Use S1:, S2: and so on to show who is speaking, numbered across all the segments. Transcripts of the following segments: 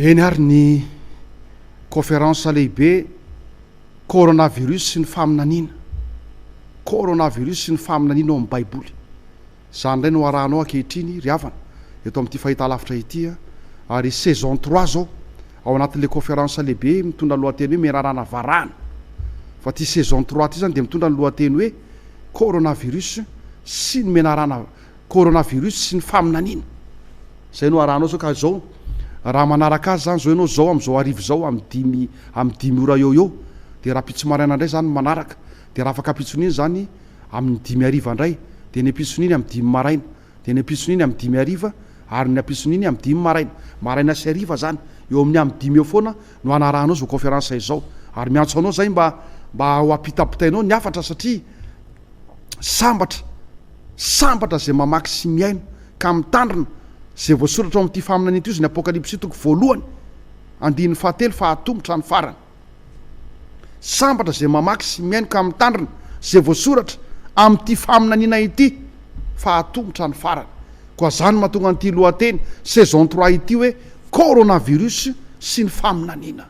S1: Eny ary ny Kaoferansa lehibe Coronavirus sy ny faminaniana, Coronavirus sy ny faminaniana ao amin'ny Baiboly. Izany indray no arahanao ankehitriny ry havana eto amin'ity fahitalavitra ity ary saison trois izao ao anatin'ilay Kaoferansa lehibe mitondra ny lohateny hoe Menarana varahina fa ity saison trois ity izany dia mitondra ny lohateny hoe Coronavirus sy ny menarana Coronavirus sy ny faminaniana. Izay no arahanao zao ka zao raha manaraka azy zany zao ianao zao am zao arivo zao am dimy am dimy ora eo eo de raha ampitso maraina ndray zany manaraka de raha afaka ampitson'iny zany am ny dimy hariva ndray de ny ampitson'iny am dimy maraina de ny ampitson'iny am dimy hariva ary ny ampitson'iny am dimy maraina maraina sy hariva zany eo amin'ny am dimy eo foana no anarahanao zao conférence izao ary miantso anao zay mba mba ho apitapitainao ny hafatra satria sambatra Sambatra izay mamaky sy mihaino ka mitandrina izay voasoratra ao amin'ity faminaniana ity hoy ny Apokalypsy toko voalohany andininy fahatelo fa hatomotra ny farany. Sambatra izay mamaky sy mihaino ka mitandrina izay voasoratra amin'ity faminaniana ity fa hatomotra ny farany. Koa izany no mahatonga an'ity lohateny Saison trois ity hoe Coronavirus sy ny faminaniana.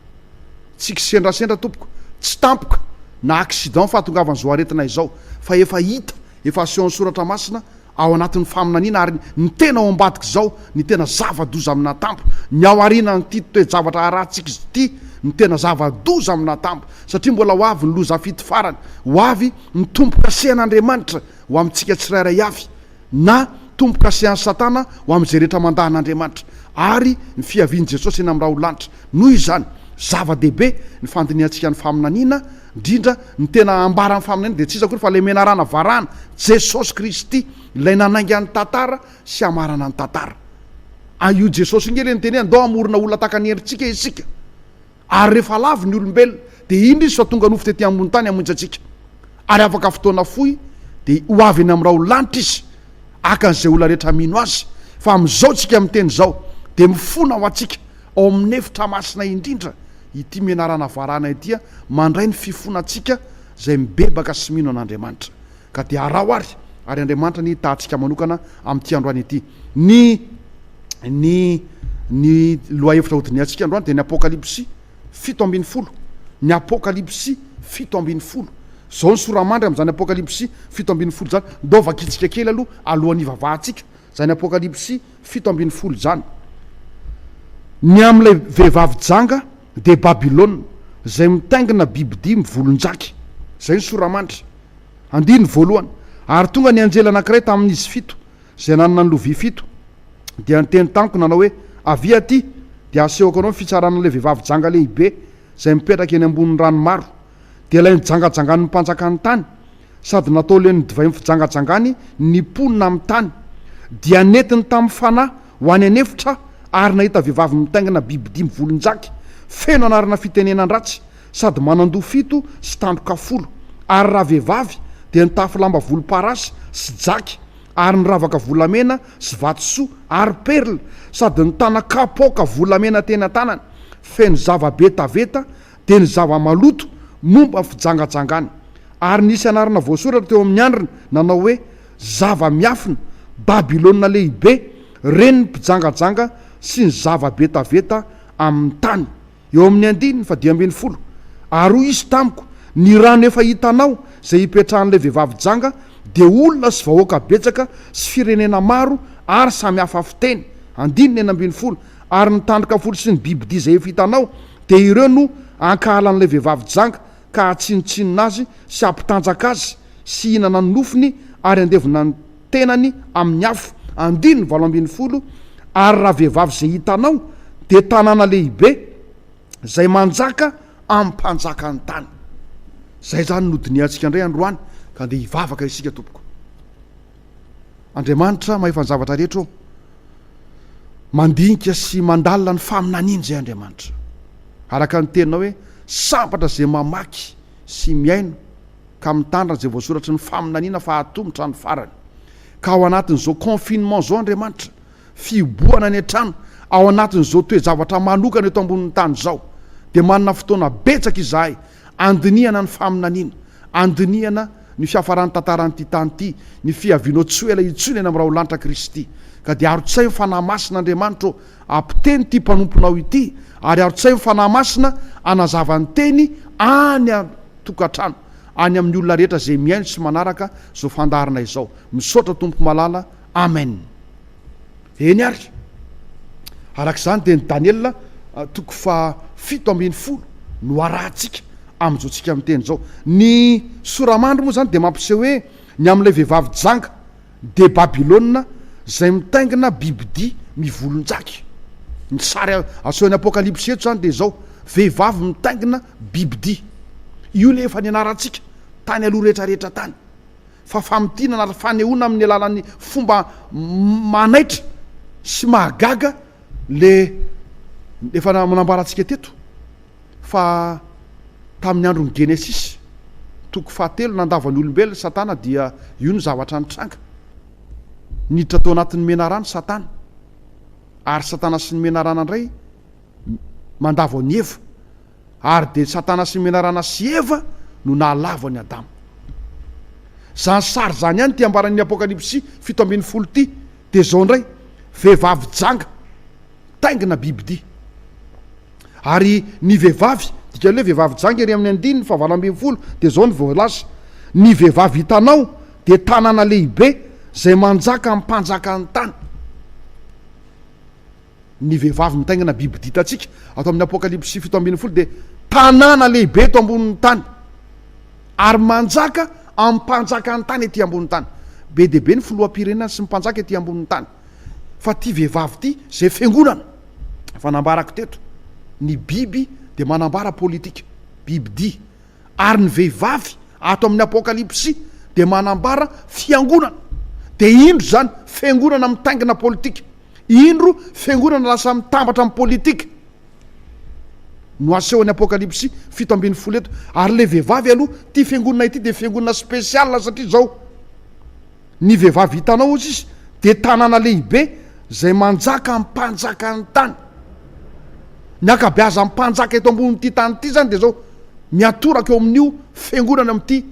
S1: Tsy kisendrasendra tompoko, tsy tampoka na accident fahatongavan'izao aretina izao fa efa hita Efa asehon'ny Soratra Masina ao anatin'ny faminaniana ary ny tena ao ambadik'izao, ny tena zava-doza amina tampo, ny ao aorianan'ity toe-javatra harahantsika izy ity, ny tena zava-doza amina tampo, satria mbola ho avy ny loza fito farany, ho avy ny tombo-kasehan'Andriamanitra ho amintsika tsirairay avy, na tombo-kasehan'i Satana ho amin'izay rehetra mandà an'Andriamanitra, ary ny fiavian'i Jesosy eny amin'ny raholanitra. Noho izany, zava-dehibe ny fandinihantsika ny faminaniana, Indrindra, ny tena ambaran'ny faminaniana dia tsy iza akory fa ilay menarana varahana, Jesosy Kristy, ilay nanainga ny tantara sy hamarana ny tantara. A Io Jesosy io nge ilay niteny hoe andao hamorona olona tahaka ny endritsika isika. Ary rehefa lavo ny olombelona, dia indro Izy fa tonga nofo tety ambony tany hamonjy antsika. Ary afaka fotoana fohy, dia ho avy eny amin'ny raholanitra Izy, haka an'izay olona rehetra mino Azy. Fa amin'izao tsika miteny izao, dia mifona ho antsika Ao amin'ny efitra masina indrindra ity menarana varahina ity mandray ny fifonantsika izay mibebaka sy mino an'Andriamanitra. Ka dia araho ary, ary Andriamanitra anie hitahantsika manokana amin'ity androany ity. Ny, ny, ny lohahevitra hodinihantsika androany dia ny Apokalypsy fito ambin'ny folo. Ny Apokalypsy fito ambin'ny folo. Izao ny sora-mandry amin'izany Apokalypsy fito ambin'ny folo izany. Ndao vakitsika kely aloha alohan'ny hivavahantsika izany Apokalypsy fito ambin'ny folo jany, ny amin'ilay vehivavy janga dia Babylona izay mitaingina bibidia mivolonjaky, izay ny sora-manitra, andininy voalohany, ary tonga ny anjely anankiray tamin'izy fito izay nanana ny lovia fito, dia niteny tamiko nanao hoe, Avia aty, dia hasehoko anao ny fitsaran'ilay vehivavy janga lehibe izay mipetraka eny ambonin'ny rano maro, dia ilay nijangajangan'ny mpanjakan'ny tany, sady natao len'ny divain'ny fijangajangany ny mponina amin'ny tany. Dia nentiny tamin'ny fanahy ho any an'efitra aho, ary nahita vehivavy mitaingina biby dimy volon-jaky, feno anarana fitenenan-dratsy, sady manan-doha fito sy tandroka folo, ary ravehivavy, dia nitafy lamba volomparasy sy jaky, ary niravaka volamena sy vatosoa ary perla, sady nitana kapoaka volamena teny an-tanany, feno zava-betaveta, dia ny zava-maloto momba ny fijangajangana, ary nisy anarana voasoratra teo amin'ny andriny nanao hoe, Zava-miafina, Babylona Lehibe, renin'ny mpijangajanga sy ny zava-betaveta amin'ny tany. Eo amin'ny andininy fadimy ambin'ny folo. Ary hoy izy tamiko, Ny rano efa hitanao, izay hipetrahan'ilay vehivavy janga, dia olona sy vahoaka betsaka sy firenena maro ary samy hafa fiteny, andininy enina ambin'ny folo, Ary ny tandroka fotsy sy ny bibidia izay efa hitanao, dia ireo no hankahalan'ilay vehivavy janga, ka hahatsinontsinona azy sy hampitanjaka azy, sy hihinana ny nofony, ary handevona ny tenany amin'ny afo. Andininy valo ambin'ny folo Ary ravehivavy izay hitanao, dia tanàna lehibe, izay manjaka amin'ny mpanjakan'ny tany. Izay izany no nodinihantsika indray androany, ka andeha hivavaka isika, tompoko. Andriamanitra mahefa ny zavatra rehetra ô! Mandinika sy mandalina ny faminaniana izay Andriamanitra. Araka ny teninao hoe sambatra izay mamaky sy mihaino ka mitandrina izay voasoratry ny faminaniana fa hatomotra ny farany. Ka ao anatin'izao confinement izao Andriamanitra, fihibohana any an-trano, ao anatin'izao toe-javatra manokana eto ambonin'ny tany izao dia manana fotoana betsaka izahay Andinihana ny faminaniana, andinihana ny fiafaran'ny tantaran'ity tany ity, ny fiavianao tsy ho ela intsony eny amin'ny raholanitra Kristy. Ka dia arotsay ny Fanahy Masina Andriamanitra ô, apoteny ity mpanomponao ity, ary arotsay ny Fanahy Masina hanazava ny Teny any an-tokantrano, any amin'ny olona rehetra izay mihaino sy manaraka izao fandaharana izao. Misaotra Tompo Malala. Amen. Eny ary, araka izany dia ny Daniela toko faha fito ambin'ny folo no arahantsika amin'izao tsika miteny izao. Ny soramandry moa izany dia mampiseho hoe ny amin'ilay vehivavy janga dia Babylona izay mitaingina bibidia mivolonjaky. Ny sary asehon'ny Apokalypsy eto izany dia izao, vehivavy mitaingina bibidia. Io ilay efa nianarantsika tany aloha rehetra rehetra tany. fa famintinana ary fanehoana amin'ny alalan'ny fomba manaitra sy mahagaga le efa nambarantsika teto fa tamin'ny andron'ny Genesisy toko fahatelo nandava ny olombelona i Satana dia io no zavatra nitranga. Niditra tao anatin'ny menarana Satana ary Satana sy ny menarana indray mandavo an'i Eva, ary dia Satana sy menarana sy Eva no nahalavo an'i Adama. Izany sary izany ihany ity ambaran'ny Apokalypsy fito ambin'ny folo ity, dia izao indray, vehivavy janga, taingina bibidia. Ary ny vehivavy, dikany hoe vehivavy janga ery amin'ny andininy fahavalo ambin'ny folo, dia izao no voalaza, Ny vehivavy hitanao dia tanàna lehibe izay manjaka amim-panjakan'ny tany. Ny vehivavy mitaingina biby ditantsika ato amin'ny Apokalypsy fito ambin'ny folo dia tanàna lehibe eto ambonin'ny tany ary manjaka amin'ny mpanjaka ny tany ety ambonin'ny tany. Be dia be ny filoham-pirenena sy ny mpanjaka ety ambonin'ny tany. Fa ity vehivavy ity, izay fiangonana efa nambarako teto, ny biby dia manambara politika, bibidia, ary ny vehivavy ato amin'ny Apokalypsy dia manambara fiangonana. Dia indro izany, fiangonana mitaingina politika. Indro fiangonana lasa mitambatra amin'ny politika no asehon'ny Apokalypsy fito ambin'ny folo eto. Ary ilay vehivavy aloha, ity fiangonana ity dia fiangonana spécial satria izao, ny vehivavy hitanao hozy izy dia tanàna lehibe izay manjaka amin'ny mpanjakan'ny tany. Ny ankabeazan'ny mpanjaka eto ambonin'ity tany ity izany dia izao, miatoraka eo amin'io fiangonana amin'ity.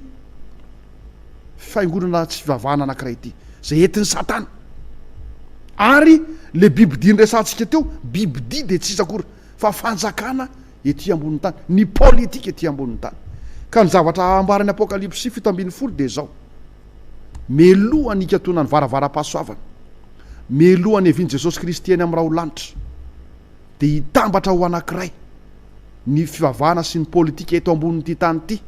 S1: fiangonana tsy fivavahana anankiray ity, izay entin'i Satana. Ary ilay bibidia niresahantsika teo, bibidia dia tsy iza akory fa fanjakana ety ambonin'ny tany, ny politika ety ambonin'ny tany. Ka ny zavatra ambaran'ny Apokalypsy fito ambin'ny folo dia izao, Mialoha ny hikatonan'ny varavaram-pahasoavana, mialoha ny hevian'i Jesosy Kristy eny amin'ny raho-lanitra, dia hitambatra ho anankiray ny fivavahana sy ny politika eto ambonin'ity tany ity,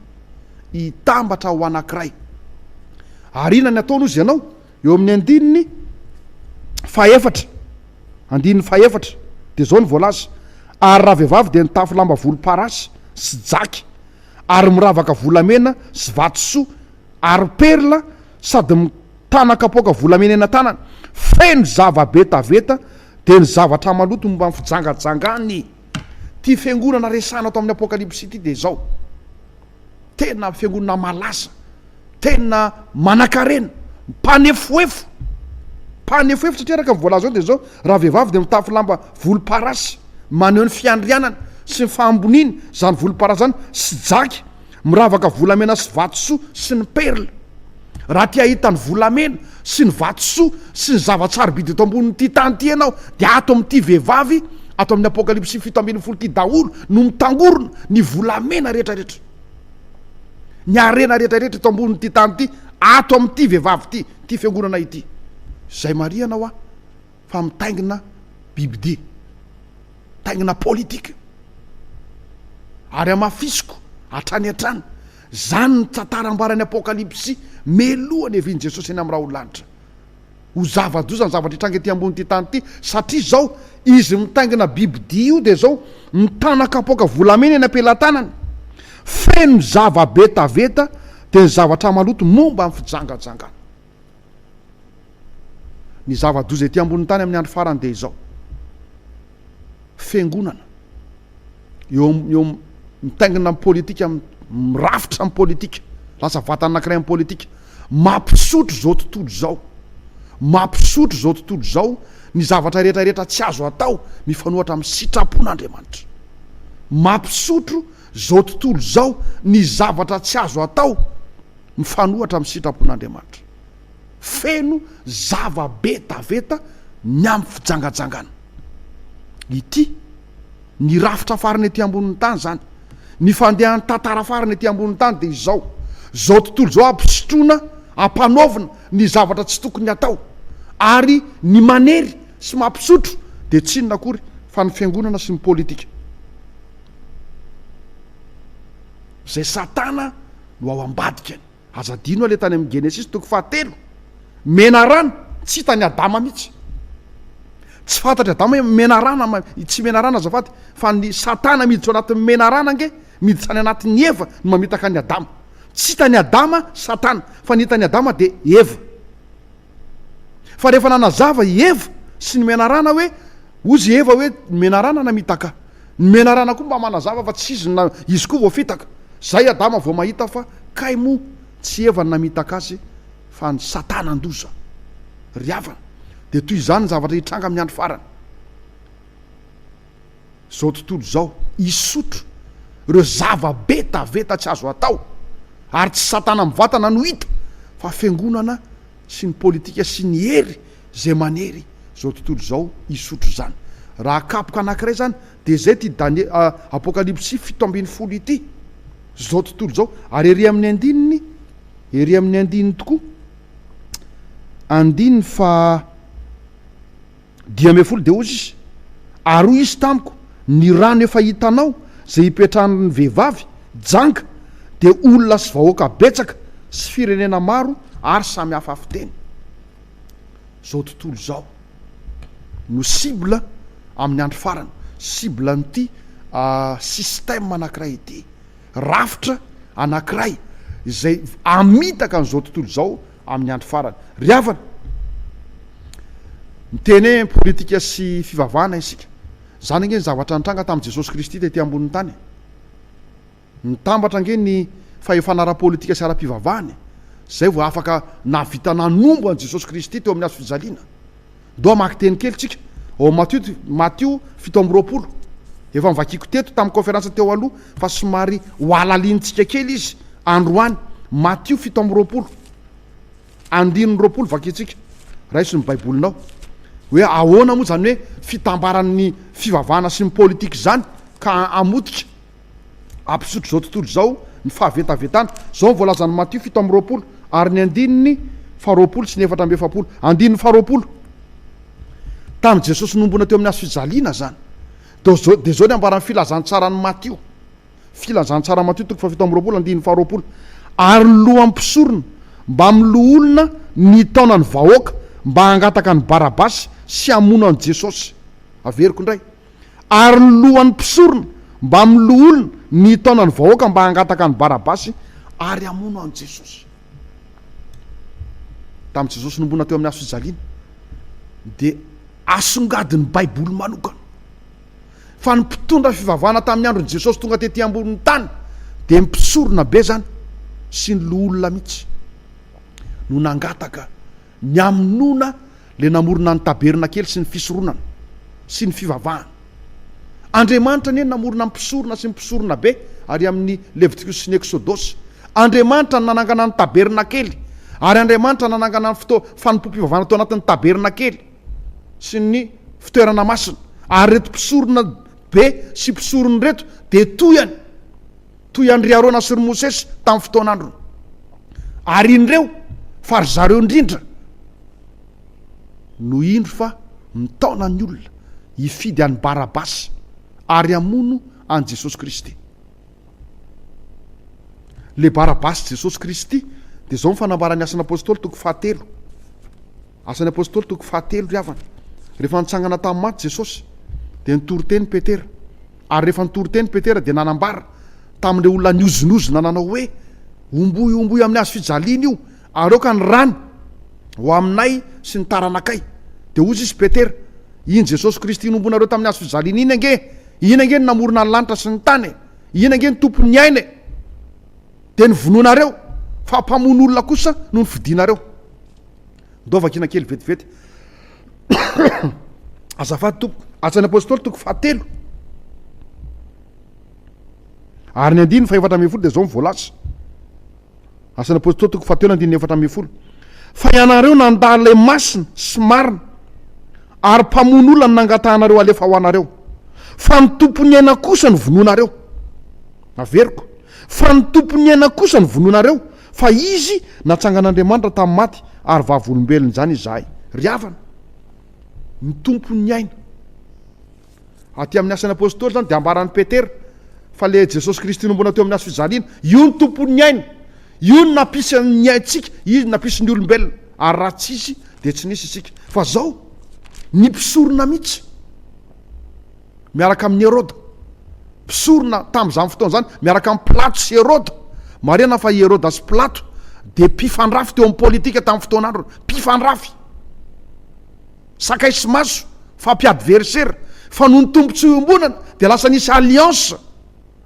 S1: hitambatra ho anankiray. Ary inona ny ataony hozy ianao? Eo amin'ny andininy fahefatra, andininy fahefatra, dia izao ny voalaza, Ary ravehivavy dia nitafy lamba volomparasy sy jaky, ary miravaka volamena sy vatosoa ary perla, sady Tana kapoaka volamena eny an-tanana, feno zava-betaveta, dia ny zavatra maloto momba ny fijangajangan'ny ity fiangonana resahina ato amin'ny Apokalypsy ity dia izao, tena fiangonana malaza, tena manankarena, mpanefoefo, mpanefoefo satria araka ny voalaza ao dia izao, ravehivavy dia mitafy lamba volomparasy, maneho ny fiandrianany sy ny fahamboniany izany volomparasy izany, sy jaky. Miravaka volamena sy vatosoa sy ny perla. Raha te hahita ny volamena sy ny vatosoa sy ny zava-tsarobidy eto ambonin'ity tany ity ianao dia ato amin'ity vehivavy ato amin'ny Apokalypsy fito ambin'ny folo ity daholo no mitangorona ny volamena rehetrarehetra. Ny harena rehetrarehetra eto ambonin'ity tany ity ato amin'ity vehivavy ity, ity fiangonana ity. Izay marihana hoa. fa mitaingina bibidia, mitaingina politika. Ary hamafisiko hatrany hatrany, izany no tantara ambaran'ny Apokalypsy mialoha ny havian'i Jesosy eny amin'ny raholalanitra. Ho zava-doza ny zavatra hitranga ety ambonin'ity tany ity, satria izao izy mitaingina bibidia io dia izao mitana kapoaka volamena eny am-pelatanany, feno zava-betaveta, dia ny zavatra maloto momba ny fijangajangana. Ny zava-doza ety ambonin'ny tany amin'ny andro farany dia izao. Fiangonana. Eo am- eo am- mitaingina amin'ny politika, mi- mirafitra amin'ny politika, lasa vatana anankiray amin'ny politika. Mampisotro izao tontolo izao. Mampisotro izao tontolo izao ny zavatra rehetra rehetra tsy azo atao mifanohatra amin'ny sitrapon'Andriamanitra. Mampisotro izao tontolo izao ny zavatra tsy azo atao mifanohatra amin'ny sitrapon'Andriamanitra. Feno zava-betaveta ny amin'ny fijangajangana. Ity ny rafitra farany ety ambonin'ny tany izany. Ny fandehan'ny tantara farany ety ambonin'ny tany dia izao. Izao tontolo izao ampisotroina, ampanaovina ny zavatra tsy tokony hatao. Ary ny manery sy mampisotro dia tsy inona akory fa ny fiangonana sy ny politika. Izay Satana no ao ambadikany. Aza adino aleha tany amin'ny Genesisy toko fahatelo, menarana, tsy hitan'i Adama mihitsy. Tsy fantatr'i Adama hoe menarana, tsy menarana azafady, fa ny Satana miditra ao anatin'ny menarana ange, miditra any anatin'i Eva no mamitaka an'i Adama. Tsy hitan'i Adama Satana, fa ny hitan'i Adama dia Eva. Fa rehefa nanazava i Eva sy ny menarana hoe, hozy i Eva hoe, ny menarana namitaka. Ny menarana koa mba manazava fa tsy izy na izy koa voafitaka. Izay Adama vao mahita fa kay moa tsy Eva no namitaka azy fa ny satanan-doza. Ry havana, dia toy izany ny zavatra hitranga amin'ny andro farany. Zao tontolo zao hisotro reo zava betaveta tsy azo atao ary tsy satana mivatana no hita fa fiangonana sy ny politika sy ny hery zay manery zao tontolo zao hisotro zany raha kapoka anakiray zany de zay ty danie apokalipsy fito ambin'ny folo ity zao tontolo zao ary ery amin'ny andininy ery amin'ny andininy tokoa andininy fa Dimy ambin'ny folo dia hozy izy, Ary hoy izy tamiko, Ny rano efa hitanao, izay hipetrahan'ny vehivavy, janga, dia olona sy vahoaka betsaka sy firenena maro ary samy hafa fiteny. Izao tontolo izao no cible amin'ny andro farany, cible an'ity système anankiray ity, rafitra anankiray izay hamitaka an'izao tontolo izao, amin'ny andro farany. Ry havana, miteny hoe politika sy fivavahana isika. Izany ange ny zavatra nitranga tamin'i Jesosy Kristy tety ambonin'ny tany e! Nitambatra ange ny fahefana ara-politika sy ara-pivavahana e! Izay vao afaka nahavita nanombo an'i Jesosy Kristy teo amin'ny hazo fijaliana. Ndoa hamaky teny kely tsika ao amin'ny Matio, Matio fito amby roapolo. Efa novakiako teto tamin'ny kaonferansa teo aloha fa somary hohalalinintsika kely izy androany. Matio fito amby roapolo, andininy roapolo vakintsika. Raiso ny Baibolinao. Hoe ahoana moa izany hoe fitambaran'ny fivavahana sy ny politika izany ka hamotika Hampisotro izao tontolo izao ny fahavetavetana. Izao ny voalazan'i Matio fito amby roapolo ary ny andininy faharoapolo sy ny efatra amby efapolo. Andininy faharoapolo. Tamin'i Jesosy nohomboana teo amin'ny hazo fijaliana izany. Dia izao, dia izao ny ambaran'ny filazantsaran'i Matio. Filazantsaran'i Matio toko fahafito amby roapolo andininy faharoapolo. Ary ny lohan'ny mpisorona mbamin'ny loholona nitaona ny vahoaka mba hangataka an'i Barabasy sy hamono an'i Jesosy. Averiko indray. ary ny lohan'ny mpisorona mbamin'ny loholona nitaona ny vahoaka mba hangataka an'i Barabasy ary hamono an'i Jesosy. Tamin'i Jesosy nombona teo amin'ny hazo fijaliana dia asongadin'ny Baiboly manokana fa ny mpitondra fivavahana tamin'ny andron'i Jesosy tonga tety ambonin'ny tany dia mpisorona be izany sy ny loholona mihitsy no nangataka Ny amonona le namorona ny tabernakely sy ny fisoronana sy ny fivavahana. Andriamanitra anie namorona ny mpisorona sy ny mpisorona be ary amin' ny Levitikus sy ny Eksodosy. Andriamanitra no nanangana ny tabernakely ary Andriamanitra nanangana ny fotoa fanompoam-pivavahana tao anatin' ny tabernakely sy ny fitoerana masina ary ireto mpisorona be sy mpisorona ireto dia toy any toy an-dry Arona sy ry Mosesy tamin'ny fotoan'androny. Ary indreo fa ry zareo indrindra no indro fa mitaona ny olona hifidy an'i Barabasy ary hamono an'i Jesosy Kristy. Le Barabasy Jesosy Kristy dia izao ny fanambaran'ny Asan'Apostoly toko fahatelo. Asan'ny Apôstôly toko fahatelo, ry havana. Rehefa nitsangana tamin'ny maty Jesôsy, dia nitory teny Petera. Ary rehefa nitory teny Petera, dia nanambara tamin'ireo olona nihozonozona nanao hoe, Omboy, omboy amin'ny hazo fijaliana io, ary aoka ny rany ho aminay sy ny taranakay. Dia hoy Izy, Petera, iny Jesôsy Kristy nomboinareo tamin'ny hazo fijaliana iny ange, iny ange no namorona ny lanitra sy ny tany e! Iny ange no Tompon'ny aina e! Dia novonoinareo, fa mpamono olona kosa no nifidinareo. Ndao vakina kely vetivety. Azafady tompoko, Asa ny Apôstôly toko fahatelo. Ary ny andininy fahefatra ambin'ny folo dia izao ny voalaza. Asa ny Apôstôly toko fahatelo andininy efatra ambin'ny folo. Fa ianareo nandà ilay masina sy marina ary mpamono olona no nangatahanareo halefa ho anareo. Fa ny tompon'ny aina kosa no vonoinareo. Averiko. Fa ny tompon'ny aina kosa no vonoinareo. Fa Izy natsangan'Andriamanitra tamin'ny maty, ary vavolombelona izany izahay. Ry havana, ny Tompo niaina. Aty amin'ny Asan'ny Apostoly izany dia ambaran'i Petera fa ilay Jesosy Kristy nombona teo amin'ny hazo fijaliana, io ny Tompo niaina. Io no nampisy ny aintsika, Izy no nampisy ny olombelona, ary raha tsy Izy dia tsy nisy isika. Fa izao, ny mpisorona mihitsy. miaraka amin'i Heroda. Mpisorona tamin'izany fotoana izany miaraka amin'i Pilato sy Heroda. Marihana fa i Heroda sy Pilato dia mpifandrafy teo amin'ny politika tamin'ny fotoana androny. Mpifandrafy. Sakay sy maso, fampiadversera. Fa noho ny tombontsoa iombonana dia lasa nisy alliance.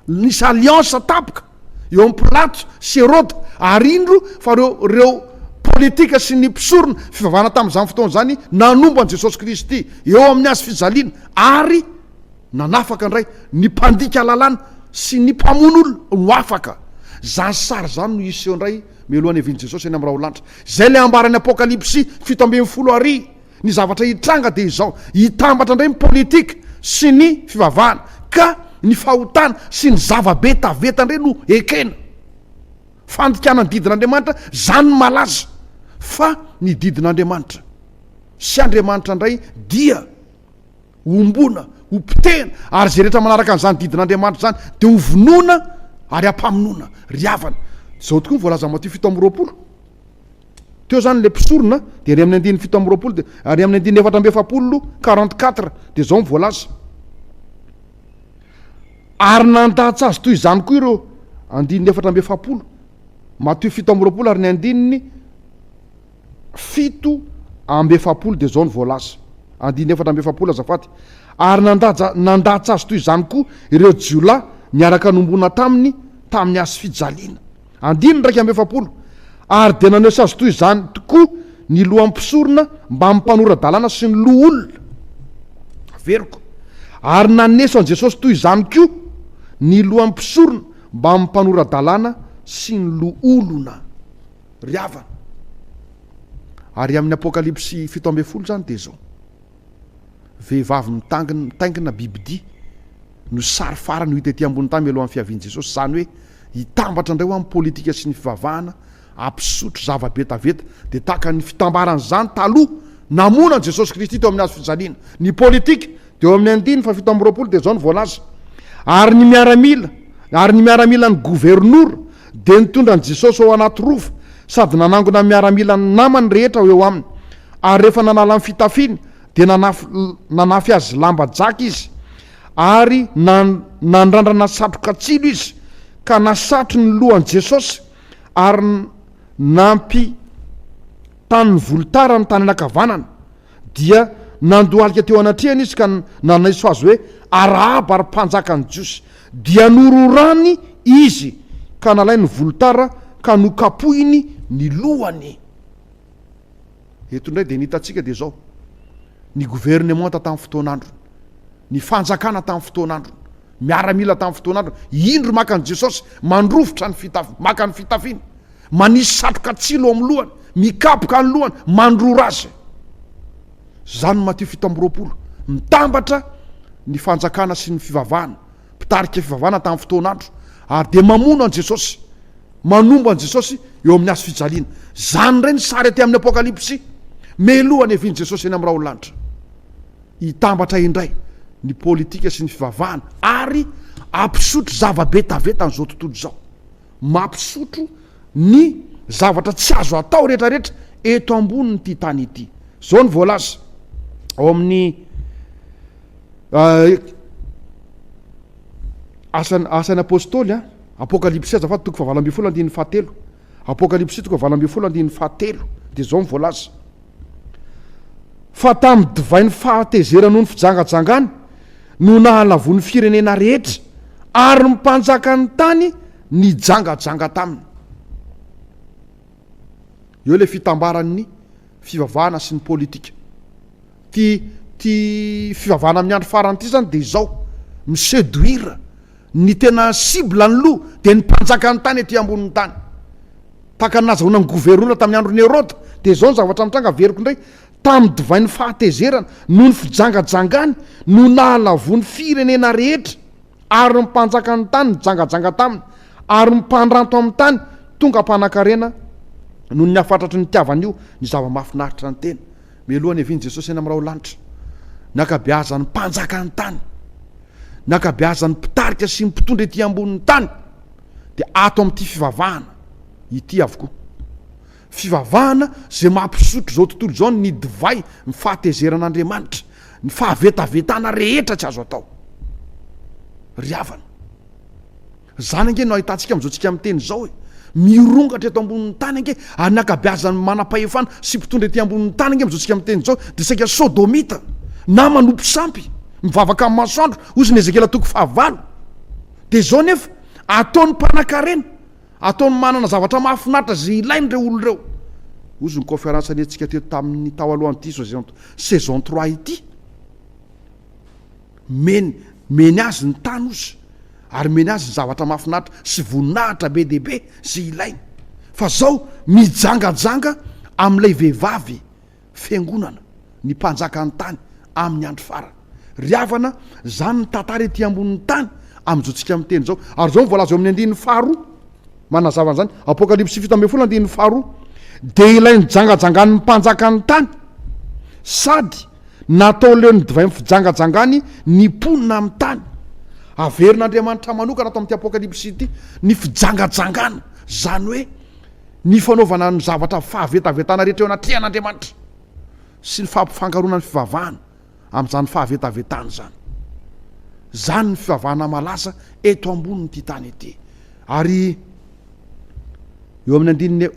S1: Nisy alliance tampoka eo amin'i Pilato sy Heroda ary indro fa ireo ireo politika sy ny mpisorona fivavahana tamin'izany fotoana izany nanompo an'i Jesosy Kristy eo amin'ny hazo fijaliana ary nanafaka indray ny mpandika lalàna sy ny mpamono olona no afaka. Izany sary izany no hiseho indray mialohan'ny havian'i Jesosy eny amin'ny raholanitra. Izay ilay ambaran'ny Apokalypsy fito ambin'ny folo ary. Ny zavatra hitranga dia izao, hitambatra indray ny politika sy ny fivavahana ka ny fahotana sy ny zava-betaveta indray no ekena. Fandikana ny didin'Andriamanitra izany no malaza fa ny didin'Andriamanitra sy Andriamanitra indray dia homboana, hopotehina ary izay rehetra manaraka an'izany didin'Andriamanitra izany dia hovonoina ary hampamonoana. Ry havana, izao tokoa ny voalaza Matio fito amby roapolo. Teo zany le mpisorona dia any amin'ny andininy fito amby roapolo dia ary amin'ny andininy efatra amby efapolo, quarante quatre, dia zao ny voalaza. Ary nandatsa azy toy izany koa ireo andininy efatra amby efapolo, Matio fito amby roapolo ary ny andininy fito amby efapolo dia zao ny voalaza. Andininy efatra amby efapolo azafady. Ary nandaja nandatsa azy toy izany koa ireo jiolahy niaraka nombona taminy tamin'ny hazo fijaliana. Andininy iraika amby efapolo, Ary dia naneho sazy toy izany tokoa ny lohan'ny mpisorona mbamin'ny mpanora-dalàna sy ny loholona. Averiko. Ary naneso an'i Jesosy toy izany koa ny lohan'ny mpisorona mbamin'ny mpanora-dalàna sy ny loholona. Ry havana. Ary amin'ny Apokalypsy fito ambin'ny folo izany dia izao. Vehivavy mitaingina bibidia no sary farany ho hita ety ambony tany mialohan'ny fiavian'i Jesosy, izany hoe hitambatra indray ho amin'ny politika sy ny fivavahana hampisotro zava-betaveta. Dia tahaka ny fitambaran'izany taloha namoana an'i Jesosy Kristy teo amin'ny hazo fijaliana. Ny politika dia eo amin'ny andininy fahafito amby roapolo dia izao no voalaza, Ary ny miaramila, ary ny miaramilan'ny governora, Dia nitondra an'i Jesosy ao anaty rova sady nanangona ny miaramila ny namany rehetra ho eo aminy. Ary rehefa nanala ny fitafiny, dia nanafy, nanafy azy lamba jaka izy. Ary na, nandrandrana satroka tsilo izy, ka nasatry ny lohan'i Jesosy, ary nampitany ny volotara ny tany anankavanana. Dia nandohalika teo anatrehany izy ka nanaiso azy hoe, Arahaba, ry mpanjakan'ny Jiosy! Dia nororany izy ka nalainy ny volotara ka nokapohiny ny lohany. Eto indray dia ny hitantsika dia izao, ny governemanta tamin'ny fotoan'androny, ny fanjakana tamin'ny fotoan'androny, miaramila tamin'ny fotoan'androny, indro maka an'i Jesosy, mandrovitra ny fitafiny, maka ny fitafiny, Manisy satroka tsilo amin'ny lohany, mikapoka ny lohany, mandrora azy. Zany Matio fito amby roapolo. Mitambatra ny fanjakana sy ny fivavahana, mpitarika fivavahana tamin'ny fotoan'andro, ary dia mamono an'i Jesosy, manombo an'i Jesosy eo amin'ny hazo fijaliana. Zany indray ny sary aty amin'ny Apokalypsy. Meloha ny hevian'i Jesosy eny amin'ny raholalanitra. Hitambatra indray ny politika sy ny fivavahana ary hampisotro zava-be tavetan'izao tontolo izao. Mampisotro ny zavatra tsy azo atao rehetrarehetra eto ambonin'ity tany ity. Izao no voalaza ao amin'ny eh, asan, asan'ny apôstôly, eh, Apokalypsy azafady toko fahavalo ambin'ny folo andininy fahatelo. Apokalypsy toko fahavalo ambin'ny folo andininy fahatelo dia izao no voalaza. fa tamin'ny divain'ny fahatezerany ho ny fijangajangany no nahalavoan'ny firenena rehetra, ary ny mpanjakan'ny tany nijangajanga taminy. Eo ilay fitambaran'ny fivavahana sy ny politika. Ity ity fivavahana amin'ny andro farany ity izany dia izao, mi-seduire. Ny tena cible ny loha dia ny mpanjakan'ny tany ety ambonin'ny tany. Tahaka ny nazahoana ny goverona tamin'ny andron'i Heroda, dia izao ny zavatra nitranga, averiko indray, Tamin'ny divain'ny fahatezerana, noho ny fijangajangany, no nahalavoan'ny firenena rehetra, ary ny mpanjakan'ny tany nijangajanga taminy, ary ny mpandranto amin'ny tany tonga mpanankarena noho ny hafatratry ny nitiavany io ny zava-mahafinaritra ny tena. Mialoha ny havian'i Jesosy any amin'ny raholanitra, nankabeazan'ny mpanjaka ny tany, nankabeazan'ny mpitarika sy ny mpitondra ety ambonin'ny tany, dia ato amin'ity fivavahana ity avokoa. Fivavahana izay maha mpisotro izao tontolo izao ny divay ny fahatezeran'Andriamanitra, ny fahavetavetana rehetra tsy azo atao. Ry havana. Izany ange no ahitantsika amin'izao tsika miteny izao e! Mirongatra eto ambonin'ny tany ange ary ny ankabeazan'ny manam-pahefana sy mpitondra ety ambonin'ny tany ange amin'izao tsika miteny izao dia saika sodomita na manompo sampy mivavaka amin'ny masoandro hozy ny Ezekiela toko faha valo dia izao nefa ataony mpanakarena ataony manana zavatra mahafinaritra izay ilainy ireo olona ireo hozy ny conference niantsika teto tamin'ny tao alohan'ity saison trois ity Men, meny azy ny tany ozy, ary meny azy ny zavatra mahafinaritra sy voninahitra be dia be izay ilainy. Fa izao mijangajanga amin'ilay vehivavy fiangonana, ny mpanjakan'ny tany amin'ny andro farany. Ry havana, izany ny tantara ety ambonin'ny tany amin'izao tsika miteny izao. Ary izao ny voalaza eo amin'ny andininy faharoa, manazava an'izany, Apokalypsy fito ambin'ny folo andininy faharoa, Dia ilay nijangajangàn'ny mpanjakan'ny tany, sady Natao leon'ny divay fijangajangany ny mponina amin'ny tany. Averin'Andriamanitra manokana ato amin'ity Apokalypsy ity ny fijangajangana, izany hoe ny fanaovana ny zavatra fahavetavetana rehetra eo anatrehan'Andriamanitra sy ny fampifangaroana ny fivavahana amin'izany fahavetavetana izany. Izany ny fivavahana malaza eto ambonin'ity tany ity. Ary eo amin'ny andininy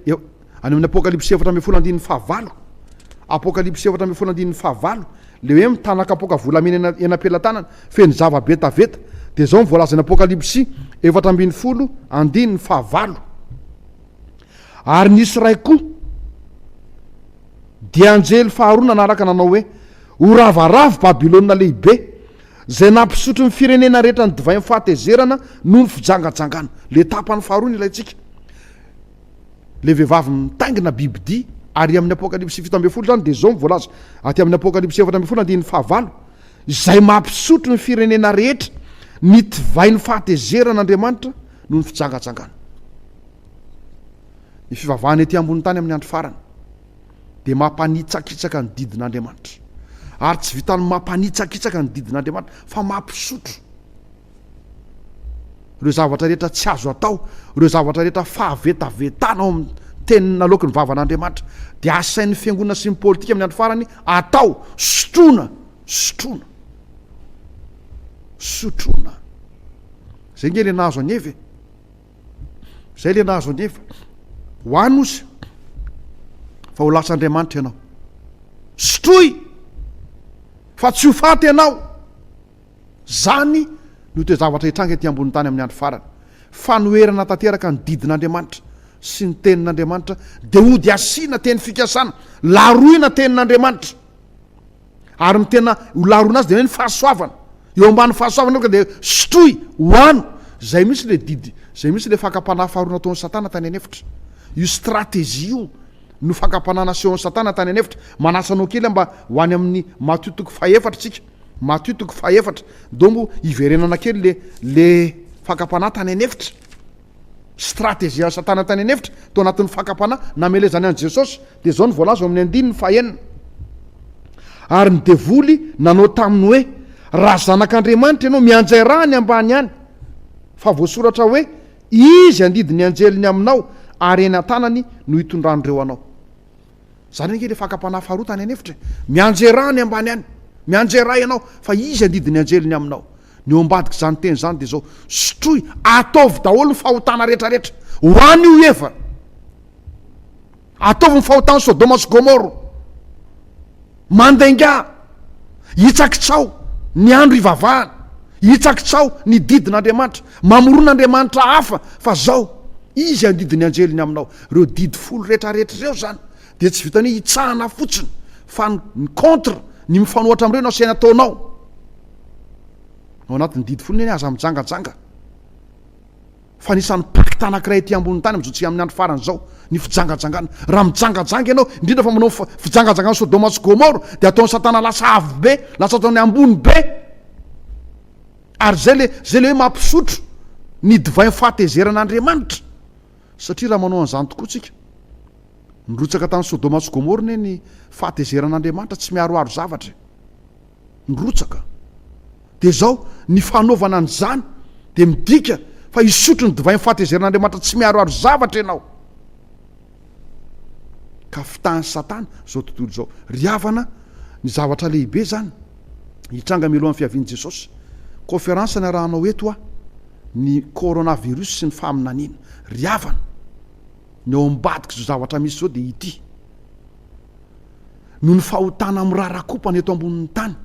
S1: Any amin'ny Apokalypsy efatra ambin'ny folo andininy fahavalo, Apokalypsy efatra ambin'ny folo andininy fahavalo, le hoe mitana kapoaka volamena eny eny am-pelatanana, feno zava-betaveta. Dia zao ny voalaza any Apokalypsy efatra ambin'ny folo andininy fahavalo. Ary nisy iray koa, dia anjely faharoa nanaraka nanao hoe, Ho ravaravo Babylona lehibe, zay nampisotro ny firenena rehetra ny divain'ny fahatezerana noho ny fijangajangana. Le tapany faharoa no ilaintsika. ilay vehivavy mitaingina bibidia, ary amin'ny Apokalypsy fito ambin'ny folo izany dia izao no voalaza aty amin'ny Apokalypsy efatra ambin'ny folo andininy fahavalo, Izay mampisotro ny firenena rehetra ny divain'ny fahatezeran' Andriamanitra noho ny fijangajangana. Ny fivavahana ety ambonin'ny tany amin'ny andro farany dia mampanitsakitsaka ny didin' Andriamanitra, ary tsy vitan'ny mampanitsakitsaka ny didin' Andriamanitra fa mampisotro. Ireo zavatra rehetra tsy azo atao, ireo zavatra rehetra fahavetavetana ao amin'ny Teniny naloaky ny vavan'Andriamanitra, dia asain'ny fiangonana sy ny politika amin'ny andro farany atao, sotroina, sotroina, sotroina. Izay nge le nahazo an'Eva e. Izay le nahazo an'Eva. Ho any ozy fa ho lasa Andriamanitra ianao. Sotroy fa tsy ho faty ianao. Izany no toe-javatra hitranga ety ambonin'ny tany amin'ny andro farany. Fanoherana tanteraka ny didin'Andriamanitra sy ny Tenin'Andriamanitra dia hody asiana teny fikasana, laroina Tenin'Andriamanitra. Ary ny tena ho laroina azy dia hoe ny fahasoavana. Eo ambanin'ny fahasoavana aoka dia sotroy, hohano. Izay mihitsy ilay didy, izay mihitsy ilay fakam-panahy faharoa nataon'i Satana tany an'efitra. Io stratejia io no fakam-panahy nasehon'i Satana tany an'efitra. Manasa anao kely aho mba ho any amin'ny Matio toko fahefatra isika. Matio toko faha efatra, dongo hiverenana kely le le fakam-panahy tany an'efitra, strategian'i satana tany an'efitra tao anatin'ny fakam-panahy namelezany an'i Jesosy, dia izao no voalaza ao amin'ny andininy faha enina, Ary ny devoly nanao taminy hoe, Raha zanak'Andriamanitra ianao, mianjay ra any ambany any, fa voasoratra hoe, Izy handidy ny anjeliny aminao, ary eny an-tanany no hitondran'ireo anao. Zany ange le fakam-panahy faharoa tany an'efitra e! Mianjera any ambany any! Mianjera ianao fa izy andidy ny anjely ny aminao! Ny eo ambadik'izany teny izany dia izao, Sotroy, ataovy daholo ny fahotana rehetrarehetra ho an' io Eva! Ataovy ny fahotan'i Sodoma sy Gomoro! Mandainga! Hitsakitsao ny andro hivavahana, hitsakitsao ny didin'Andriamanitra. Mamorona andriamanitra hafa fa zao, izy handidy ny anjeliny aminao. Reo didy folo retraretra ireo zany dia tsy vitan'ny hoe hitsahana fotsiny fa ny contre, ny mifanohatra amreo no asaina ataonao. Ao anatin'ny didy folo neny aza mijangajanga. fa anisan'ny pacte anankiray ety ambonin'ny tany amin'izao tsy amin'ny andro farany izao ny fijangajangana. Raha mijangajanga ianao, indrindra fa manao fijangajangan'i Sodoma sy Gomora, dia ataon'i Satana lasa avo be, lasa ataony ambony be. Ary izay le, izay le hoe mampisotro ny divain'ny fahatezeran'Andriamanitra. Satria raha manao an'izany tokoa tsika, nirotsaka tany Sodoma sy Gomora anie ny fahatezeran'Andriamanitra, tsy miaroaro zavatra e. nirotsaka. Dia izao, ny fanaovana an'izany dia midika fa hisotro ny divain'ny fahatezerin'Andriamanitra tsy miharoharo zavatra ianao. Ka fitahan'i Satana izao tontolo izao. Ry havana, ny zavatra lehibe izany hitranga mialohan'ny fiavian'i Jesosy. Kaoferansa niarahanao eto aho, ny coronavirus sy ny faminaniana. Ry havana, ny ao ambadik'izao zavatra misy izao dia ity. noho ny fahotana mirarakopana eto ambonin'ny tany.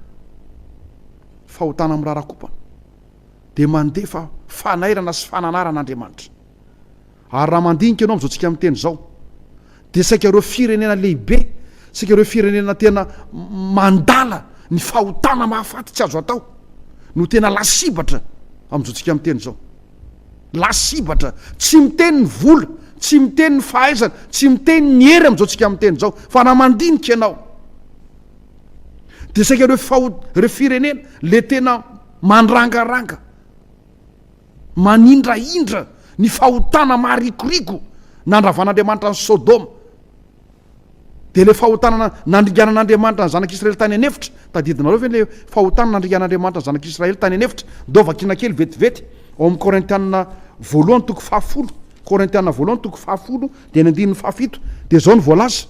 S1: Fahotana mirarakopana dia mandefa fanairana sy fananarana Andriamanitra. Ary raha mandinika ianao amin'izao tsika miteny izao, dia saika ireo firenena lehibe, saika ireo firenena tena mandala ny fahotana mahafaty tsy azo atao no tena lasibatra amin'izao tsika miteny izao. Lasibatra, tsy miteny ny vola, tsy miteny ny fahaizana, tsy miteny ny hery amin'izao tsika miteny izao, fa raha mandinika ianao dia saika ireo faho, ireo firenena le tena mandrangaranga, manindrahindra ny fahotana maharikoriko nandravan'Andriamanitra an'i Sodoma. Dia ilay fahotana nandringanan'Andriamanitra ny zanak'Israely tany an'efitra, tadidinareo ve ilay fahotana nandringan'Andriamanitra ny zanak'Israely tany an'efitra? Ndao vakiana kely vetivety ao amin'ny Korintiana voalohany toko fahafolo, Korintiana voalohany toko fahafolo dia ny andininy fahafito, dia izao no voalaza,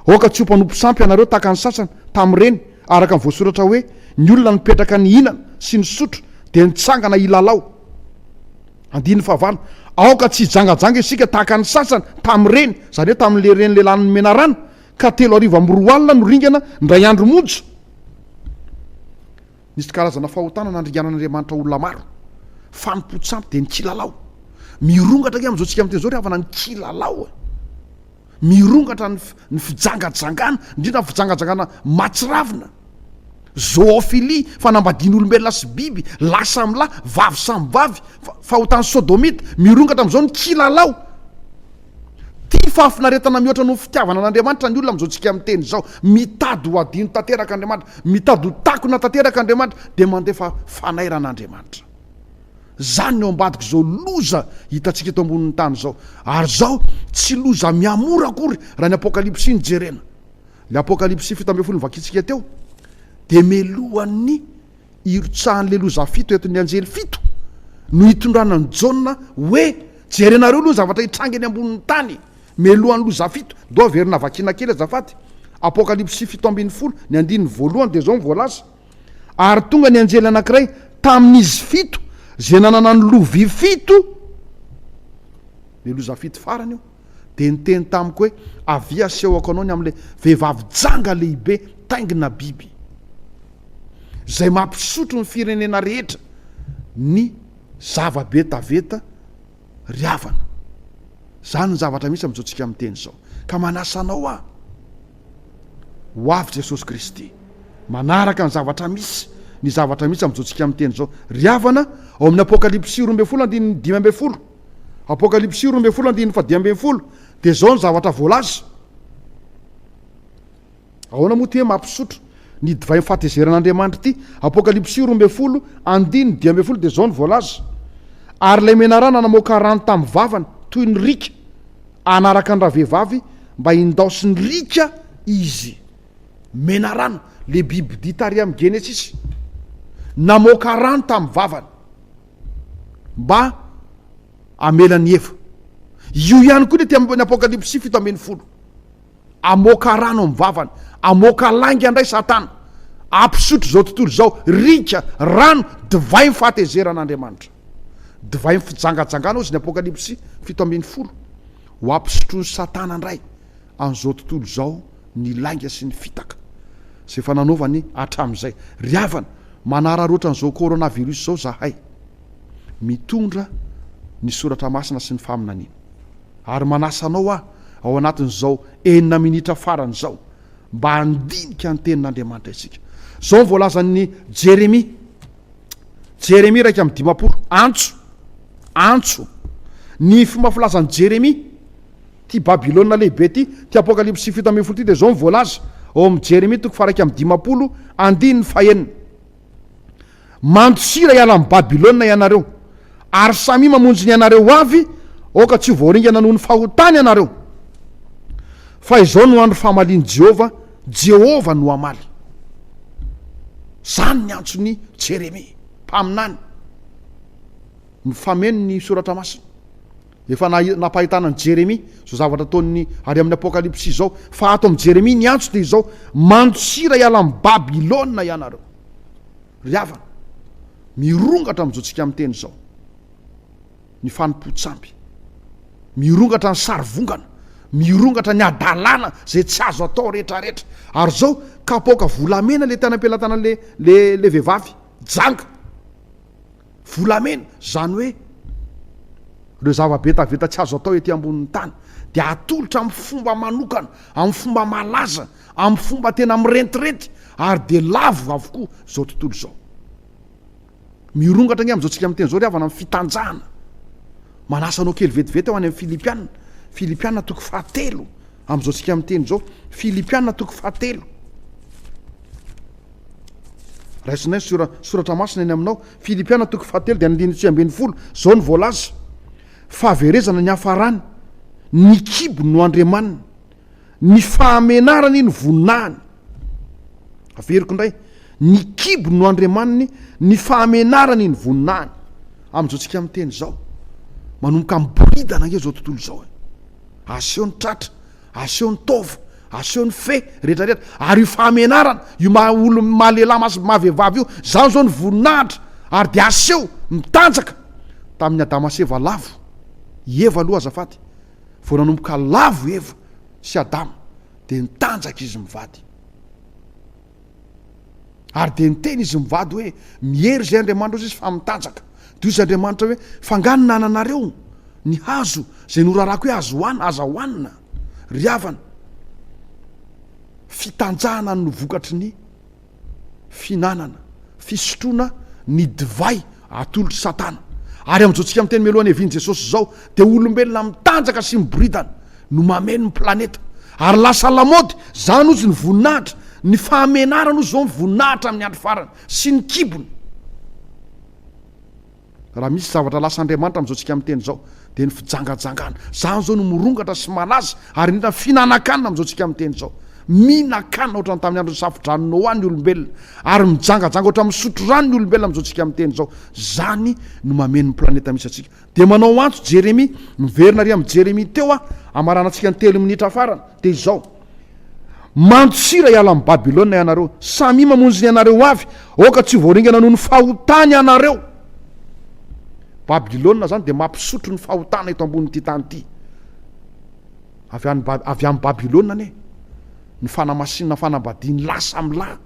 S1: Aoka tsy ho mpanompo sampy ianareo tahaka ny sasany tamin'ireny, araka ny voasoratra hoe, Ny olona nipetraka nihinana sy nisotro dia nitsangana hilalao. Andininy fahavalo, Aoka tsy hijangajanga isika tahaka ny sasany tamin'ireny, izany hoe tamin'ireny lehilahin'ny menarana, ka telo arivo amby roa alina no ringana indray andro monja. Nisy karazana fahotana nandringanan'Andriamanitra olona maro. Fanompoan-tsampy dia ny kilalao. Mirongatra ange amin'izao isika amin'ny teny izao ry havana ny kilalao e! Mirongatra ny fijangajangana, indrindra ny fijangajangana mahatsiravina, zoophilie, fanambadian'olombelona sy biby, lahy samy lahy, vavy samy vavy, fahotany sodomita, mirongatra amin'izao ny kilalao. Tia fahafinaretana mihoatra noho ny fitiavana an'Andriamanitra ny olona amin'izao tsika miteny izao. Mitady ho adino tanteraka Andriamanitra, mitady ho takona tanteraka Andriamanitra, dia mandefa fanairana Andriamanitra. Zany ny ao ambadika zao loza hitantsika eto ambonin'ny tany zao. Ary zao tsy loza miha-mora akory raha ny apokalypsy no jerena. Le apokalypsy fito ambin'ny folo novakintsika teo de melohan'ny hirotsahan'le loza fito entin'ny anjely fito no hitondrana an'i Jaona hoe jerenareo aloha ny zavatra hitranga eny ambonin'ny tany melohan'ny loza fito. Ndao averina vakiana kely azafady apokalypsy fito ambin'ny folo ny andininy voalohany de zao ny voalaza. Ary tonga ny anjely anankiray tamin'izy fito izay nanana ny lovia fito, ilay loza fito farany io, dia niteny tamiko hoe, Avia asehoko anao ny amin'ilay vehivavy janga lehibe taingina biby, izay mampisotro ny firenena rehetra ny zava-betaveta ry havana. Izany ny zavatra misy amin'izao tsika miteny izao. Ka manasa anao aho. Ho avy Jesosy Kristy. Manaraka ny zavatra misy, ny zavatra misy amin'izao tsika miteny izao. Ry havana, ao amin'ny Apokalypsy roa ambin'ny folo andininy dimy ambin'ny folo, Apokalypsy roa ambin'ny folo andininy fadimy ambin'ny folo, dia izao ny zavatra voalaza. Ahoana moa ity hoe mampisotro ny divain'ny fahatezeran'Andriamanitra ity? Apokalypsy roa ambin'ny folo andininy dimy ambin'ny folo dia izao ny voalaza. Ary ilay menarana namoaka rano tamin'ny vavany toy ny riaka, hanaraka ny ravehivavy Mba hindaosin'i Rika izy. Menarano, le bibidia tary amin'ny Genesisy, namoaka rano tamin'ny vavany mba hamela an'i Eva. Io ihany koa ny aty amin'ny Apokalypsy fito ambin'ny folo. Amoaka rano amin'ny vavany, amoaka lainga indray Satana, hampisotro izao tontolo izao Rika, rano, divain'ny fahatezeran'Andriamanitra. Divain'ny fijangajangana hozy ny Apokalypsy fito ambin'ny folo. Ho ampisotroin'i Satana indray an'izao tontolo izao ny lainga sy ny fitaka izay efa nanaovany hatramin'izay. Ry havana, manararaotra an'izao coronavirus izao izahay, mitondra ny soratra masina sy ny faminaniana. Ary manasa anao aho, ao anatin'izao enina minitra farany izao, mba handinika ny Tenin'Andriamanitra isika. Izao no voalazan'i Jeremia. Jeremia iraika amby dimampolo, antso, antso. Ny fomba filazan'i Jeremia, ty Babylona lehibe ty, ty Apokalypsy fito ambin'ny folo ty dia izao ny voalaza ao amin'ny Jeremia toko faharaika amby dimampolo andininy fahenina. Mandosira hiala amin'i Babylona ianareo, ary samia mamonjy ny anareo ho avy, aoka tsy ho voaringana noho ny fahotany ianareo. Fa izao no andro famalian'i Jehovah, Jehovah no hamaly. Izany ny antson'i Jeremia, mpaminany. Mifameno ny Soratra Masina. Efa nampahitana an'i Jeremia izao zavatra ataon'ny ary amin'ny Apokalypsy izao, fa ato amin'i Jeremia ny antso dia izao, Mantsira hiala amin'i Babylona ianareo. Ry havana, mirongatra amin'izao tsika miteny izao. ny fanompoan-tsamby, mirongatra ny sarivongana, mirongatra ny hadalana izay tsy azo atao rehetrarehetra, ary izao kapoaka volamena ilay tany am-pelatanan'ilay ilay ilay vehivavy janga, volamena, izany hoe ireo zava-betaveta tsy azo atao ety ambonin'ny tany dia atolotra amin'ny fomba manokana, amin'ny fomba malaza, amin'ny fomba tena mirentirenty ary dia lavo avokoa izao tontolo izao. Mirongatra ange amin'izao tsika miteny izao ry havana amin'ny fitanjahana. Manasa anao kely vetivety aho any amin'ny Filipiana, Filipiana toko fahatelo amin'izao tsika miteny izao, Filipiana toko fahatelo. Raisina ny sora, soratra masina eny aminao, Filipiana toko fahatelo dia andininy tsy ambin'ny folo, izao no voalaza, fahaverezana ny hafarany, ny kibo no andriamaniny. Ny fahamenarany no voninahiny. Averiko indray, ny kibo no andriamaniny, ny fahamenarany no voninahiny. Amin'izao tsika miteny izao, manomboka miboridana ange izao tontolo izao e. Aseho ny tratra, aseho ny taova, aseho ny fe rehetra rehetra, ary io fahamenarana io maha olo maha lehilahy masy maha vehivavy io, izany izao no voninahitra ary dia aseho mitanjaka tamin'i Adama sy Eva lavo, i Eva aloha azafady, Vao nanomboka lavo i Eva sy Adama dia nitanjaka izy mivady. Ary dia niteny izy mivady hoe, Miery izay Andriamanitra ozy izy fa mitanjaka. Dia hoy izy Andriamanitra hoe, Fa angaha ny nananareo ny hazo izay norarako hoe azo hohanina, aza hohanina, ry havana? Fitanjahana no vokatry ny. fihinanana, fisotroana ny divay atolotry Satana. Ary amin'izao tsika miteny mialoha ny hevian'i Jesosy izao dia olombelona mitanjaka sy miboridana no mameno ny planeta. Ary lasa lamaody izany hozy ny voninahitra, ny fahamenarana hozy izao ny voninahitra amin'ny andro farany sy ny kibony. Raha misy zavatra lasa andriamanitra amin'izao tsika miteny izao dia ny fijangajangana. Izany izao no mirongatra sy malaza ary indrindra ny fihinanan-kanina amin'izao tsika miteny izao. Mihinan-kanina ohatran'ny tamin'ny andron'ny safo-drano Noa ny olombelona ary mijangajanga ohatran'ny misotro rano ny olombelona amin'izao tsika miteny izao. Izany no mameno ny planeta misy antsika. Dia manao antso Jeremia, miverina ary amin'ny Jeremia teo aho, hamaranantsika ny telo minitra farany, dia izao. Mantsira hiala amin'i Babylona ianareo, samia mamonjy ny anareo avy, aoka tsy ho voaringana noho ny fahotany ianareo. Babylona izany dia mampisotro ny fahotana eto ambonin'ity tany ity. Avy any avy any Babylona anie ny fanamasinana fanambadian'ny lahy samy lahy.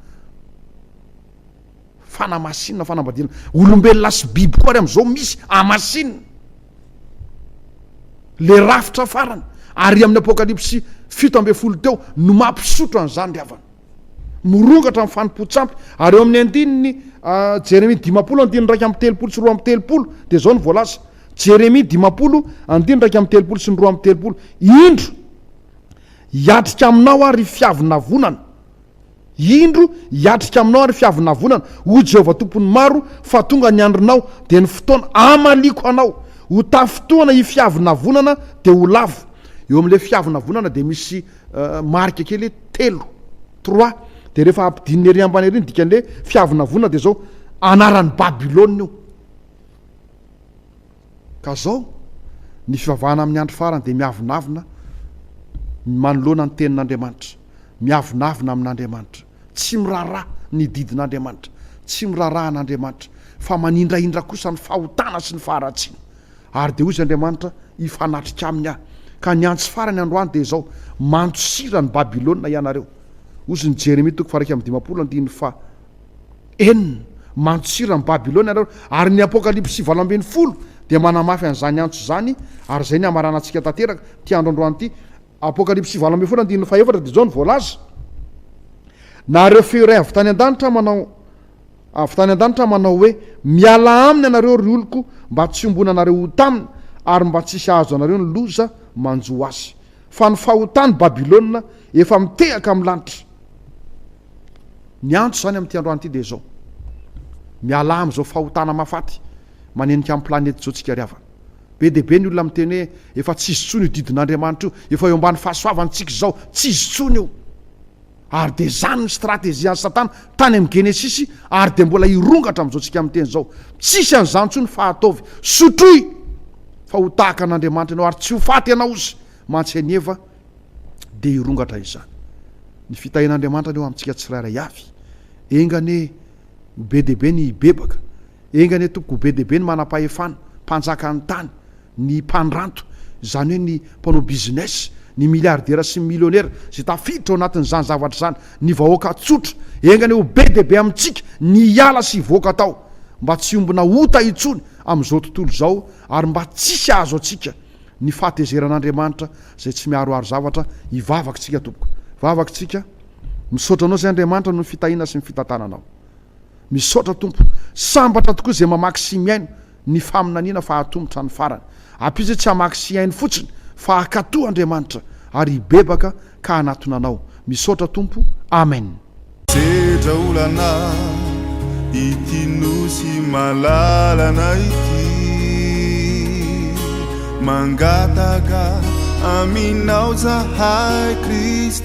S1: Fanamasinina, fanambadiana olombelona sy biby koa ary amin'izao misy hamasinina. Le rafitra farany ary amin'ny apokalypsy fito ambin'ny folo teo no mampisotro an'izany ry havana. Mirongatra ny fanompoan-tsampy ary eo amin'ny andininy Jeremia dimampolo andininy iraika amby telopolo sy roa amby telopolo dia izao no voalaza. Jeremia dimampolo andininy iraika amby telopolo sy ny roa amby telopolo. Indro, hiatrika aminao aho ry fiavonavonana. Indro, hiatrika aminao ary fiavonavonana, hoy Jehovah Tompon'ny maro, fa tonga ny andronao, dia ny fotoana hamaliako anao. Ho tafintohana i fiavonavonana, dia ho lavo. Eo amin'ilay fiavonavonana dia misy marika kely hoe telo, trois, dia rehefa ampidinina ery ambany ery ny dikan'ilay fiavonavonana dia izao, anaran'i Babylona io. Ka zao, ny fivavahana amin'ny andro farany dia miavonavona manoloana ny Tenin'Andriamanitra, miavonavona amin'Andriamanitra, tsy miraharaha ny didin'Andriamanitra, tsy miraharaha an'Andriamanitra, fa manindrahindra kosa ny fahotana sy ny faharatsiana. Ary dia hoy izy Andriamanitra, Hifanatrika aminy aho. Ka ny antsy farany androany dia izao, Mandosira ny Babylona ianareo. Hoy izy ny Jeremia toko faha iraika amby dimampolo andininy faha. Enina, Mantsiran'i Babylona ianareo. Ary ny Apokalypsy valo ambin'ny folo dia manamafy an'izany antso izany, ary izay ny hamaranantsika tanteraka ity andro androany ity. Apokalypsy valo ambin'ny folo andininy fahefatra dia izao no voalaza, Nahareo feo iray avy tany an-danitra manao avy tany an-danitra manao hoe, Mialà aminy ianareo, ry oloko, mba tsy hiombonanareo ho taminy, ary mba tsy hisy hahazo anareo ny loza manjo azy. Fa ny fahotany Babylona efa mitehaka amin'ny lanitra. Ny antso izany amin'ity androany ity dia izao, Mialà amin'izao fahotana mahafaty manenika ny planety izao tsika ry havana. Be dia be ny olona miteny hoe efa tsy izy intsony io didin'Andriamanitra io, efa eo ambany fahasoavantsika izao, tsy izy intsony io. Ary dia izany ny strategian'i Satana tany amin'ny Genesisy ary dia mbola hirongatra amin'izao isika miteny izao. Tsisy an'izany intsony fa ataovy. Sotroy fa ho tahaka an'Andriamanitra ianao ary tsy ho faty ianao ozy mantsy an'i Eva dia hirongatra izany. Ny fitahian'Andriamanitra anie ho amintsika tsirairay avy. Enga anie ho be dia be ny hibebaka. Enga anie tompoko ho be dia be ny manam-pahefana, mpanjakan'ny tany. ny mpandranto, izany hoe ny mpanao business, ny miliardera sy ny milionera izay tafiditra ao anatin'izany zavatra izany, ny vahoaka tsotra, enga anie ho be dia be amintsika ny hiala sy hivoaka tao mba tsy hiombona ota intsony amin'izao tontolo izao ary mba tsisy hahazo antsika ny fahatezeran'Andriamanitra izay tsy miaroaro zavatra, hivavaka isika tompoko, vavaka isika, misaotra anao izay Andriamanitra noho ny fitahiana sy ny fitantananao. Misaotra Tompo, sambatra tokoa izay mamaky sy mihaino ny faminaniana fa hatoa mitrany farany. Apiza tsy hamaky sy hihaino fotsiny fa hakatoa Andriamanitra ary hibebaka ka hanatona anao. Misaotra Tompo. Amen. Sedra
S2: olana ity nosy malalana ity Mangataka aminao zahay Kristy